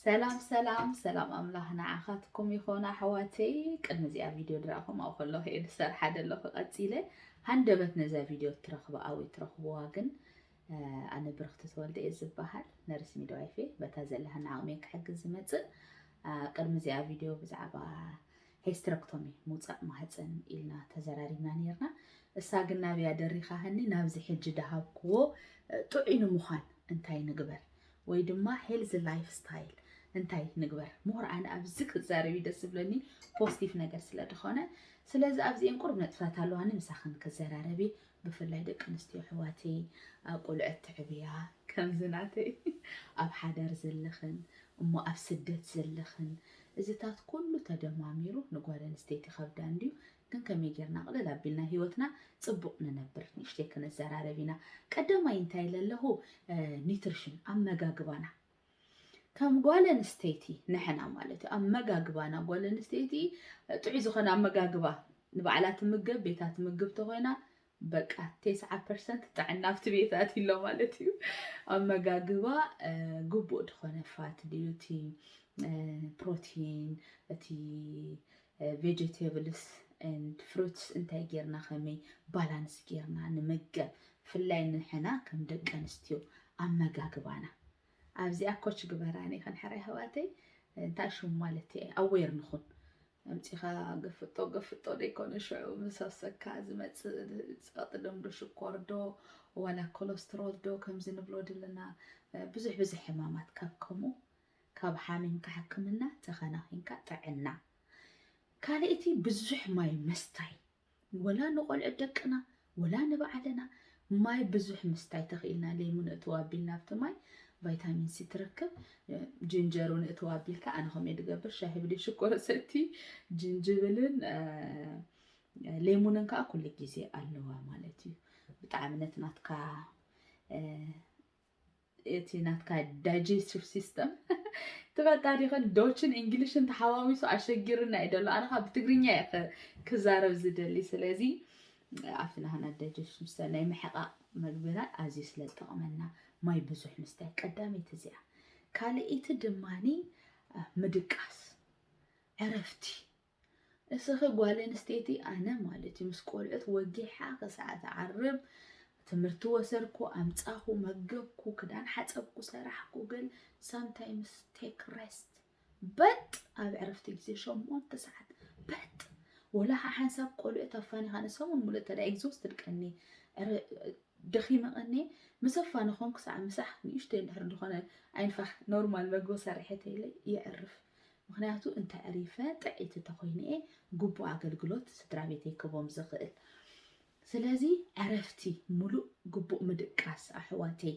ሰላም ሰላም ሰላም ኣምላኽ ንዓኻትኩም ይኾን ኣሕዋተይ ቅድሚ እዚኣ ቪድዮ ድራኹም ኣብ ከለኹ እየ ዝሰርሓ ዘለኹ ቀፂለ ሃንደበት ነዛ ቪድዮ ትረኽበ ኣወይ ትረኽብዋ ግን ኣነ ብርኽቲ ተወልደ እየ ዝበሃል ነርስ ሚድዋይፌ በታ ዘለሃና ዓቕሚ ክሕግዝ ዝመፅእ ቅድሚ እዚኣ ቪድዮ ብዛዕባ ሄስትረክቶሚ፣ ምውጻእ ማህጸን፣ ኢልና ተዘራሪብና ኔርና። እሳ ግን ናብያ ደሪኻህኒ ናብዚ ሕጂ ደሃብክዎ ጥዑይ ንምዃን እንታይ ንግበር ወይ ድማ ሄልዚ ላይፍ ስታይል እንታይ ንግበር ምሁር ኣነ ኣብዚ ክዛረብ ደስ ዝብለኒ ፖስቲቭ ነገር ስለ ዝኾነ ስለዚ ኣብዚኤን ቁርብ ነጥብታት ኣለዋኒ ምሳኽን ክዘራረብ እየ ብፍላይ ደቂ ኣንስትዮ ኣሕዋተይ ኣብ ቆልዑት ተዕብያ ከምዚ ናተይ ኣብ ሓዳር ዘለኽን እሞ ኣብ ስደት ዘለኽን እዚታት ኩሉ ተደማሚሩ ንጓል ኣንስተይቲ ከብዳ እንድዩ ግን ከመይ ጌርና ቅልል ኣቢልና ሂወትና ጽቡቅ ንነብር ንእሽተይ ክንዘራረብ ኢና ቀዳማይ እንታይ ለለኹ ኒትርሽን ኣመጋግባና ከም ጓል ኣንስተይቲ ንሕና ማለት እዩ ኣመጋግባና ጓል ኣንስተይቲ ጥዑይ ዝኾነ ኣመጋግባ ንባዕላ ትምገብ ቤታ ትምግብ ተኾይና በቃ ቴስዓ ፐርሰንት ጥዕና ኣብቲ ቤታ ኣሎ ማለት እዩ ኣመጋግባ ግቡእ ዝኾነ ፋት ድዩ እቲ ፕሮቲን እቲ ቬጀቴብልስ ኤንድ ፍሩትስ እንታይ ጌርና ከመይ ባላንስ ጌርና ንመገብ ብፍላይ ንሕና ከም ደቂ ኣንስትዮ ኣመጋግባና ኣብዚኣ ኮች ግበራኒ ክንሕራ ኣሕዋተይ እንታይ ሽሙ ማለት እየ ኣዌር ንኹን ኣምፂኻ ገፍጦ ገፍጦ ደይኮነ ሽዑ ምስ ኣፍሰካ ዝመፅእ ፀቕጢ ደም ዶ ሽኮር ዶ ዋላ ኮለስትሮል ዶ ከምዚ ንብሎ ድልና ብዙሕ ብዙሕ ሕማማት ካብ ከምኡ ካብ ሓሚምካ ሕክምና ተኸናኺንካ ጥዕና። ካልእቲ ብዙሕ ማይ ምስታይ ወላ ንቆልዑት ደቅና ወላ ንባዕልና ማይ ብዙሕ ምስታይ ተኽኢልና ሌሙን እትው ኣቢልና ኣብቲ ማይ ቫይታሚን ሲ ትረክብ ጅንጀር እውን እትው ኣቢልካ ኣነ ከምኡ ድገብር ሻሂ ብደይ ሽኮር ሰቲ ጅንጅብልን ሌሙንን ከዓ ኩሉ ግዜ ኣለዋ ማለት እዩ ብጣዕሚ ነቲ ናትካ እቲ ናትካ ዳይጀስቲቭ ሲስተም ትፈልጣ ዲኸን ዶችን እንግሊሽን ተሓዋዊሱ ኣሸጊርና እዩ ደሎ ኣነ ካብ ብትግርኛ እየ ክዛረብ ዝደሊ ስለዚ ኣብቲ ናህና ዳይጀስቲቭ ሲስተም ናይ ምሕቓቕ መግብና ኣዝዩ ስለ ዝጠቕመና ማይ ብዙሕ ምስታይ ቀዳመይቲ እዚኣ ካልኣይቲ ድማኒ ምድቃስ ዕረፍቲ እስኺ ጓል ኣንስተይቲ ኣነ ማለት እዩ ምስ ቆልዑት ወጊሓ ክሳዕ ዝዓርብ ትምህርቲ ወሰርኩ፣ ኣምጻኹ፣ መገብኩ፣ ክዳን ሓጸብኩ፣ ሰራሕኩ ግን ሳምታይምስ ቴክ ረስት በጥ ኣብ ዕረፍቲ ግዜ ሸሞንተ ሰዓት በጥ ወላ ከዓ ሓንሳብ ቆልዑት ኣፋኒኻ ንሰሙን ሙሉእ እንተ ኤግዞስትድ ቀኒ ደኺመ ቀኒ ምስ ኣፋንኾም ክሳዕ ምሳሕ ንእሽተይ እንድሕር ዝኾነ ዓይንፋሕ ኖርማል መግቢ ሰሪሐተይለ የዕርፍ ምኽንያቱ እንተዕሪፈ ጥዕይቲ ተኾይነ'የ ግቡእ ኣገልግሎት ስድራቤተይ ክህቦም ዝኽእል። ስለዚ ዕረፍቲ ምሉእ ግቡእ ምድቃስ ኣሕዋተይ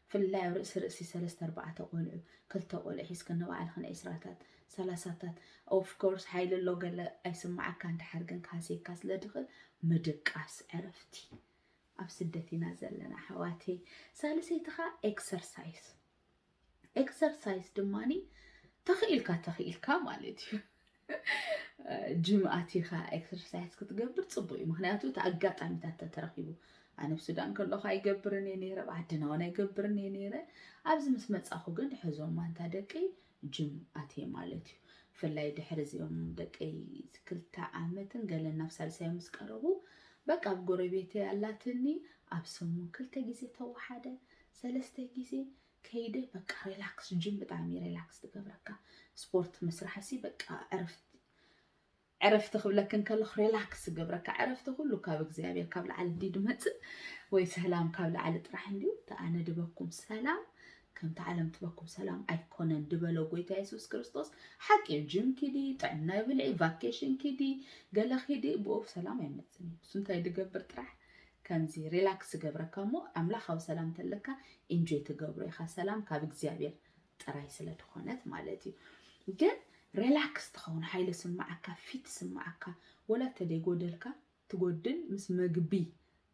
ብፍላይ ኣብ ርእሲ ርእሲ ሰለስተ ኣርባዕተ ቆልዑ ክልተ ቆልዑ ሒዝክን ንባዕልኽን ዕስራታት ሰላሳታት ኦፍ ኮርስ ሓይሊ ኣሎ ገለ ኣይስማዓካን ደሓር ግን ክሃስየካ ስለ ዝኽእል ምድቃስ ዕረፍቲ ኣብ ስደት ኢና ዘለና ኣሕዋተይ። ሳልሰይቲ ኸኣ ኤክሰርሳይስ ኤክሰርሳይዝ ድማ ተኽኢልካ ተኽኢልካ ማለት እዩ ጅም ኣቲኻ ኤክሰርሳይዝ ክትገብር ፅቡቅ እዩ ምክንያቱ እቲ ኣጋጣሚታት ተተረኪቡ ኣነ ኣብ ሱዳን ከለኹ ኣይገብርን እየ ነይረ ኣብ ዓድና እውን ኣይገብርን እየ ነይረ ኣብዚ ምስ መፃኹ ግን ሕዞም ማንታ ደቂ ጅም ኣትየ ማለት እዩ ብፍላይ ድሕሪ እዚኦም ደቂ ክልተ ዓመትን ገለ ናብ ሳልሳዮ ምስ ቀረቡ በቃ ኣብ ጎረቤተይ ኣላትኒ ኣብ ሰሙን ክልተ ግዜ ተወሓደ ሰለስተ ግዜ ከይደ በቃ ሬላክስ ጅም ብጣዕሚ እዩ ሬላክስ ትገብረካ ስፖርት ምስራሕ ሲ በቃ ዕረፍቲ ዕረፍቲ ክብለክ እንከለኹ ሬላክስ ዝገብረካ ዕረፍቲ ኩሉ ካብ እግዚኣብሔር ካብ ላዕሊ እንዲ ድመፅእ ወይ ሰላም ካብ ላዕሊ ጥራሕ እንዲዩ ተኣነ ድበኩም ሰላም ከምቲ ዓለም ትበኩም ሰላም ኣይኮነን ድበሎ ጎይታ የሱስ ክርስቶስ ሓቂ እዩ ጅም ኪዲ ጥዕና ይብልዒ ቫኬሽን ኪዲ ገለ ኪዲ ብኡብ ሰላም ኣይመፅን እዩ እሱ እንታይ ድገብር ጥራሕ ከምዚ ሪላክስ ዝገብረካ እሞ ኣምላካዊ ሰላም ተለካ ኢንጆይ ትገብሮ ኢካ ሰላም ካብ እግዚኣብሔር ጥራይ ስለ ድኮነት ማለት እዩ ግን ሪላክስ ትከውን ሓይሊ ስማዓካ ፊት ስማዓካ ወላ ተደይ ጎደልካ ትጎድል ምስ መግቢ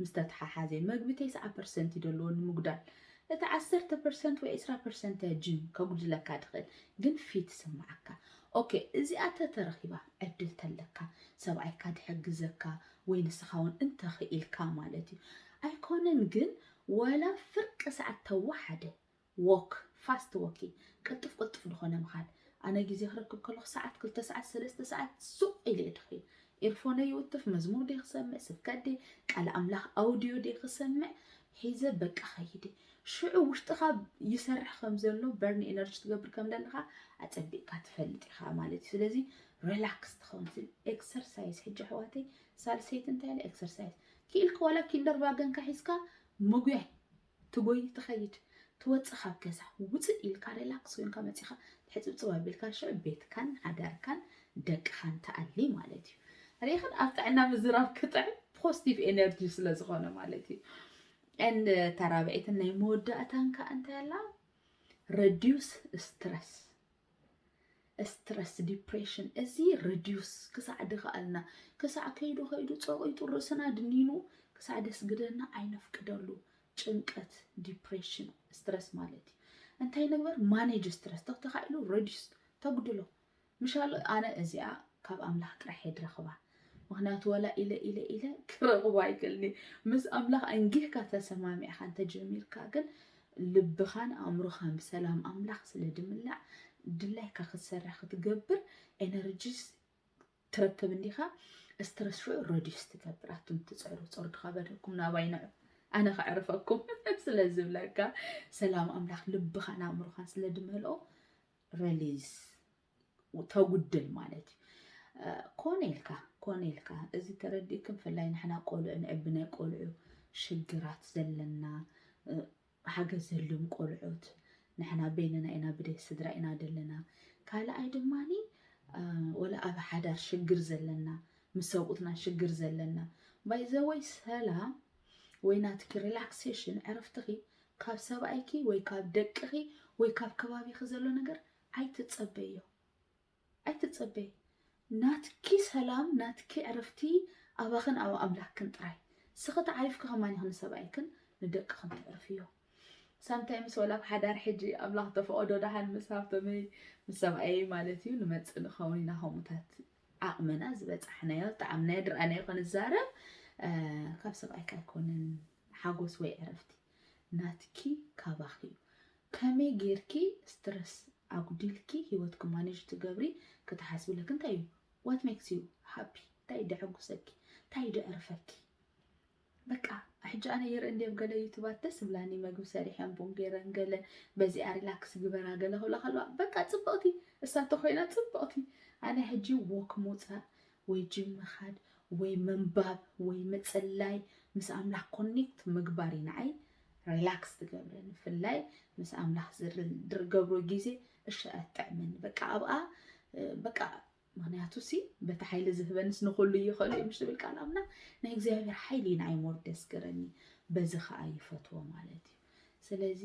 ምስ ተተሓሓዘ መግቢ ተስዓ ፐርሰንት እዩ ደለዎ ንምጉዳል እቲ ዓሰርተ ፐርሰንት ወይ ዕስራ ፐርሰንት እያ ጂም ከጉድለካ ድኽእል ግን ፊት ስምዓካ ኦኬ እዚኣ ተተረኺባ ዕድል ተለካ ሰብኣይካ ድሕግዘካ ወይ ንስኻ ውን እንተኽኢልካ ማለት እዩ ኣይኮነን ግን ዋላ ፍርቂ ሰዓት ተወሓደ ዎክ ፋስት ዎኪን ቅልጡፍ ቅልጡፍ ዝኾነ ምኻድ ኣነ ግዜ ክረክብ ከለኹ ሰዓት ክልተ ሰዓት ሰለስተ ሰዓት ሱቕ ኢለ እየ ድኺ ኢርፎነይ ይውትፍ መዝሙር ደይ ክሰምዕ ስብከት ደይ ቃል ኣምላኽ ኣውድዮ ደይ ክሰምዕ ሒዘ በቃ ኸይደ ሽዑ ውሽጥኻ ይሰርሕ ከም ዘሎ በርን ኤነርጂ ትገብር ከም ዘለኻ ኣጸቢቕካ ትፈልጥ ኢኻ ማለት እዩ ስለዚ ሬላክስ ትኸውን ስል ኤክሰርሳይዝ ሕጂ ኣሕዋተይ ሳልሰይቲ እንታይ ኢለ ኤክሰርሳይዝ ክኢልካ ዋላ ኪንደር ቫገንካ ሒዝካ ምጉያይ ትጎይ ትኸይድ ትወፅእ ካብ ገዛ ውፅእ ኢልካ ሬላክስ ኮይንካ መፂኻ ሕፅብፅብ ኣቢልካ ሽዑ ቤትካን ሃገርካን ደቅኻን ትኣሊ ማለት እዩ ሪኢኽን ኣብ ጥዕና ምዝራብ ክጥዕም ፖዚቲቭ ኤነርጂ ስለ ዝኾነ ማለት እዩ ን ተራብዒትን ናይ መወዳእታን ከዓ እንታይ ኣላ ረዲዩስ ስትረስ ስትረስ ዲፕሬሽን እዚ ሪዲዩስ ክሳዕ ድኸኣልና ክሳዕ ከይዱ ከይዱ ፀቂጡ ርእስና ድኒኑ ክሳዕ ደስግደና ኣይነፍቅደሉ ጭንቀት ዲፕሬሽን ስትረስ ማለት እዩ እንታይ ንግበር ማኔጅ ስትረስ ተተኻኢሉ ረዲስ ተጉድሎ ምሻሉ ኣነ እዚኣ ካብ ኣምላኽ ጥራሕ የድረኽባ ምክንያቱ ወላ ኢለ ኢለ ኢለ ክረኽቦ ኣይክእልኒ ምስ ኣምላኽ ኣንጊህካ ተሰማሚዕካ እንተጀሚርካ ግን ልብኻን ኣእምሮኻን ብሰላም ኣምላኽ ስለ ድምላዕ ድላይካ ክትሰርሕ ክትገብር ኤነርጂስ ትረክብ እንዲኻ ስትረስ ሽዑ ረዲስ ትገብር ኣቱም ትፅዕሩ ፀሩ ድካበደኩም ናባይ ንዑ ኣነ ከዕርፈኩም ስለ ዝብለካ ሰላም ኣምላኽ ልብኻን ኣእምሮኻን ስለ ድመልኦ ረሊዝ ተጉድል ማለት እዩ ኮነ ኢልካ ኮነ ኢልካ እዚ ተረዲእክ ብፍላይ ንሕና ቆልዑ ንዕቢ ናይ ቆልዑ ሽግራት ዘለና ሓገዝ ዘልም ቆልዑት ንሕና በይንና ኢና ብደይ ስድራ ኢና ዘለና ካልኣይ ድማ ወላ ኣብ ሓዳር ሽግር ዘለና ምስ ሰብኡትና ሽግር ዘለና ባይዘወይ ሰላም ወይ ናትኪ ሪላክሴሽን ዕረፍትኺ ካብ ሰብኣይኪ ወይ ካብ ደቅኺ ወይ ካብ ከባቢኺ ዘሎ ነገር ኣይትጸበይዮ ኣይትጸበይ ናትኪ ሰላም ናትኪ ዕርፍቲ ኣባክን ኣብ ኣምላክክን ጥራይ ስኪ ተዓሪፍኪ ከማን ኢኪ ንሰብኣይክን ንደቅክን ተዕርፍዮ ሳምታይምስ ወላ ኣብ ሓዳር ሕጂ ኣምላክ ተፈቀዶ ደሓን ምስ ሃብተመይ ምስ ሰብኣየይ ማለት እዩ ንመጽእ ንከውን ኢና ከምኡታት ዓቅምና ዝበጻሕናዮ ጣዕምናዮ ድርኣናዮ ክንዛረብ ካብ ሰብኣይካ ኣይኮነን ሓጎስ ወይ ዕረፍቲ ናትኪ ካባኺ ዩ ከመይ ጌርኪ ስትረስ ኣጉዲልኪ ሂወትኪ ማኔጅ ትገብሪ ክትሓስብለኪ እንታይ ዩ what makes you happy ታይ ደሐጉሰኪ ታይ ደዕርፈኪ በቃ ሕጂ ኣነ ይርኢ እንዲ ኣብ ገለ ዩቱባት ደስ ዝብላኒ መግቢ ሰሪሐን ቡን ገይረን ገለ በዚኣ ሪላክስ ግበራ ገለ ክብላ ከለዋ በቃ ፅብቕቲ እሳ ተኮይና ፅብቕቲ ኣነ ሕጂ ዎክ ምውፃእ ወይ ጂም ምኻድ ወይ ምንባብ ወይ ምጽላይ ምስ ኣምላኽ ኮኔክት ምግባር እዩ ንዓይ ሪላክስ ዝገብረኒ ብፍላይ ምስ ኣምላኽ ዝገብሮ ግዜ እሺ ኣትጥዕመኒ በቃ ኣብኣ በቃ ምክንያቱ ሲ በቲ ሓይሊ ዝህበንስ ንኩሉ ይኽእሉ እዩ ምሽ ዝብል ቃል ኣምላኽ ናይ እግዚኣብሔር ሓይሊ እዩ ንዓይ ሞር ደስገረኒ በዚ ከዓ ይፈትዎ ማለት እዩ ስለዚ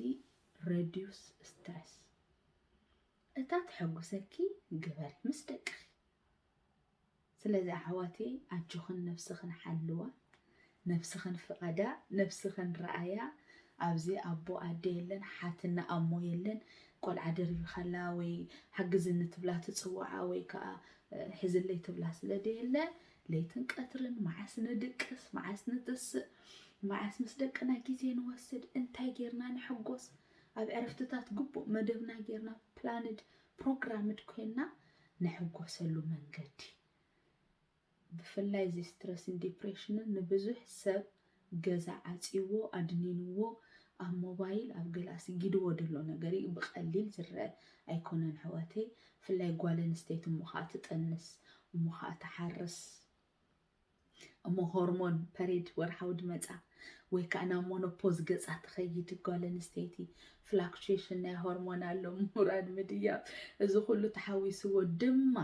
ረዲዩስ ስትረስ እታ ተሐጉሰኪ ግበሪ ምስ ደቅኺ ስለዚ ኣሕዋተይ ኣጆኽን ነብስኽን ሓልዋ ነብስኽን ፍቐዳ ነብስኽን ርኣያ ኣብዚ ኣቦ ኣደ የለን ሓትነ ኣሞ የለን ቆልዓ ደርቢኻላ ወይ ሓግዝኒ ትብላ ትጽውዓ ወይ ከኣ ሕዝለይ ትብላ ስለ ደየለ ለይትን ቀትርን መዓስ ንድቅስ መዓስ ንትስእ መዓስ ምስ ደቅና ግዜ ንወስድ እንታይ ጌርና ንሕጎስ ኣብ ዕረፍትታት ግቡእ መደብና ጌርና ፕላንድ ፕሮግራምድ ኮይና ንሕጎሰሉ መንገዲ ብፍላይ እዚ ስትረስን ዲፕሬሽንን ንብዙሕ ሰብ ገዛ ዓጽይዎ ኣድኒንዎ ኣብ ሞባይል ኣብ ገለ ኣስጊድዎ ደሎ ነገር እዩ ብቀሊል ዝረኣ ኣይኮነን ኣሕዋተይ ብፍላይ ጓል ኣንስተይቲ እሞ ከኣ ትጥንስ እሞ ከኣ ትሓርስ እሞ ሆርሞን ፐሬድ ወርሓዊ ድመጻ ወይ ከዓ ናብ ሞኖፖዝ ገጻ ትኸይድ ጓል ኣንስተይቲ ፍላክቹዌሽን ናይ ሆርሞን ኣሎ ምውራድ ምድያብ እዚ ኩሉ ተሓዊስዎ ድማ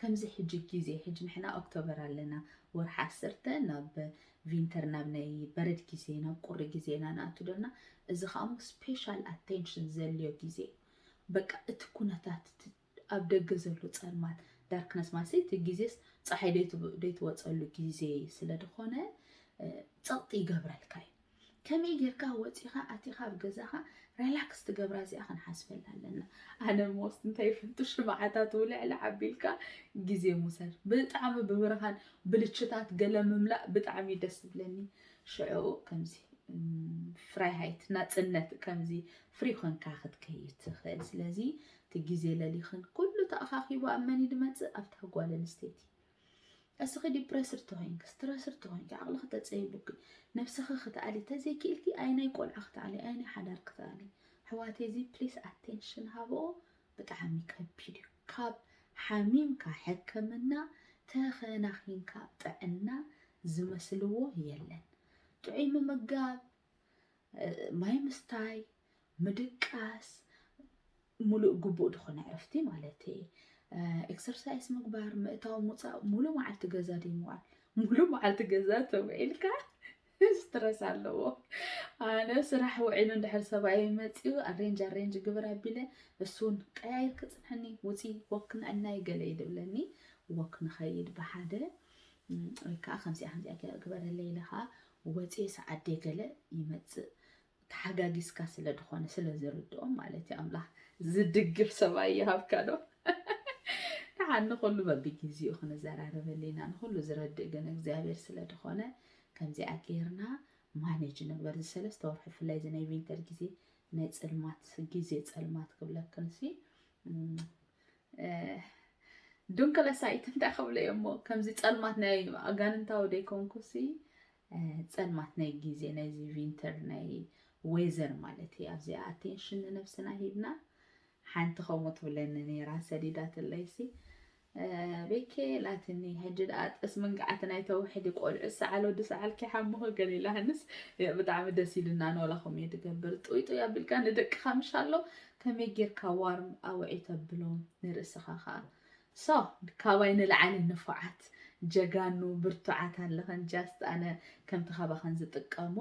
ከምዚ ሕጂ ግዜ ሕጂ ንሕና ኦክቶበር ኣለና ወርሒ ዓሰርተ ናብ ቪንተር ናብ ናይ በረድ ግዜ ናብ ቁሪ ግዜ ኢና ንኣቱ ደና እዚ ከኣሞ ስፔሻል ኣቴንሽን ዘልዮ ግዜ በቃ እቲ ኩነታት ኣብ ደገ ዘሎ ጸልማት፣ Darkness፣ ማለትሲ እቲ ግዜስ ጸሓይ ደይትወጸሉ ግዜ ስለ ድኾነ ጸቕጢ ይገብረልካ እዩ። ከመይ ጌርካ ወጺኻ ኣቲኻ ኣብ ገዛኻ Relax ትገብራ እዚኣ ክንሓስበላ ኣለና። ኣነ ሞስት እንታይ ይፈቱ ሽምዓታት ውልዕልዕ ኣቢልካ ግዜ ምውሳድ። ብጣዕሚ ብብርሃን ብልችታት ገለ ምምላእ ብጣዕሚ እዩ ደስ ዝብለኒ። ሽዑ ከምዚ ፍራይሃይት ናጽነት ከምዚ ፍሪ ኮንካ ክትከይድ ትኽእል። ስለዚ እቲ ግዜ ለሊኽን ኩሉ ተኣኻኺቡ ኣብ መን እዩ ዝመጽእ ኣብታ ጓል ኣንስተይቲ እስኺ ዲፕረስድ ተኾይንኪ ስትረስድ ተኾይንኪ ዓቕልኺ ተጸይቡኪ ነብስኺ ክትኣሊ ተዘይክኢልኪ ኣይ ናይ ቆልዓ ክትኣሊ ኣይ ናይ ሓዳር ክትኣሊ ሕዋተይ እዚ ፕሊስ ኣቴንሽን ሃቦ ብጣዕሚ ከቢድ እዩ ካብ ሓሚምካ ሕክምና ተኸናኺንካ ጥዕና ዝመስልዎ የለን ጥዑይ ምምጋብ ማይ ምስታይ ምድቃስ ሙሉእ ግቡእ ዝኾነ ዕረፍቲ ማለት እየ ኤክሰርሳይስ ምግባር ምእታው ምውፃእ ሙሉ መዓልቲ ገዛ ድዩ ምዋል ሙሉ መዓልቲ ገዛ ተውዒልካ ስትረስ ኣለዎ ኣነ ስራሕ ውዒሉ እንድሕር ሰብኣይ መፅኡ ኣሬንጅ ኣሬንጅ ግብር ኣቢለ እሱን ቀያይር ክፅንሐኒ ውፂ ወክ ንዕናይ ገለ ይድብለኒ ወክ ንኸይድ ብሓደ ወይ ከዓ ከምዚኣ ከምዚኣ ግበረለይ ኢለ ከዓ ወፂ ሰዓዴ ገለ ይመፅእ ተሓጋጊዝካ ስለ ድኾነ ስለ ዝርድኦም ማለት እዩ ኣምላኽ ዝድግፍ ሰብኣይ ይሃብካ ዶ ንዓ ንኹሉ በብግዜኡ ክንዘራረበሉ ኢና ንኹሉ ዝረድእ ግን እግዚኣብሔር ስለ ድኾነ ከምዚኣ ጌርና ማኔጅ ንግበር እዚ ሰለስተ ወርሒ ብፍላይ እዚ ናይ ቪንተር ግዜ ናይ ፅልማት ግዜ ፀልማት ክብለክንሲ ዱንክለሳይት እንታይ ክብለ እዮ እሞ ከምዚ ፀልማት ናይ ኣጋንንታዊ ደይኮንኩሲ ጸልማት ናይ ግዜ ናይዚ ቪንተር ናይ ዌዘር ማለት እዩ ኣብዚኣ ኣቴንሽን ንነብስና ሂብና ሓንቲ ከምኡ ትብለኒ ነይራ ሰዲዳትለይሲ ቤኬ ላትኒ ሕጂ ደኣ ጠስ መንግዓቲ ናይ ተውሕዲ ቆልዑ ሰዓል ወዲ ሰዓል ኪሓምኹ ገሊላ ህንስ ብጣዕሚ ደስ ኢሉና ንወላኹም እየ ትገብር ጡይ ጡይ ኣቢልካ ንደቅኻ ምሻሎ ከመይ ጌርካ ዋርም ኣውዒ ተብሎም ንርእስኻ ከዓ So ካባይ ንላዓሊ ንፉዓት ጀጋኑ ብርቱዓት ኣለኽን just ኣነ ከምቲ ካባኽን ዝጥቀሞ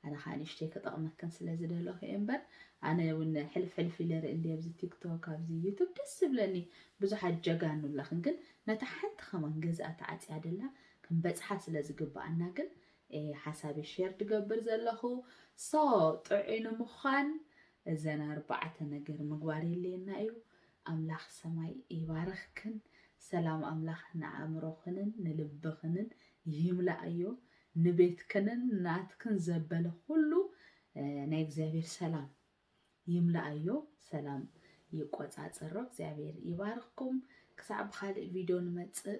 ኣነ ካኣ ንእሽተይ ክጠቅመክን ስለ ዝደለኹ እየ እምበር ኣነ ውን ሕልፍ ሕልፍ ኢለ ርኢ እንድየ ኣብዚ ቲክቶክ ኣብዚ ዩቱብ ደስ ዝብለኒ ብዙሓት ጀጋኑ ኣለኽን ግን ነታ ሓንቲ ከማን ገዝኣ ተዓጽያ ደላ ክንበጽሓ ስለ ዝግብኣና ግን ሓሳበይ ሼር ድገብር ዘለኹ ሶ ጥዑይ ንምዃን እዘን ኣርባዕተ ነገር ምግባር የለየና እዩ ኣምላኽ ሰማይ ይባርኽክን ሰላም ኣምላኽ ንኣእምሮኽንን ንልብኽንን ይምላኣዮ ንቤትክንን ናትክን ዘበለ ኹሉ ናይ እግዚኣብሔር ሰላም ይምላኣዮ ሰላም ይቆጻጸሮ እግዚኣብሔር ይባርኽኩም ክሳዕ ብኻልእ ቪድዮ ንመጽእ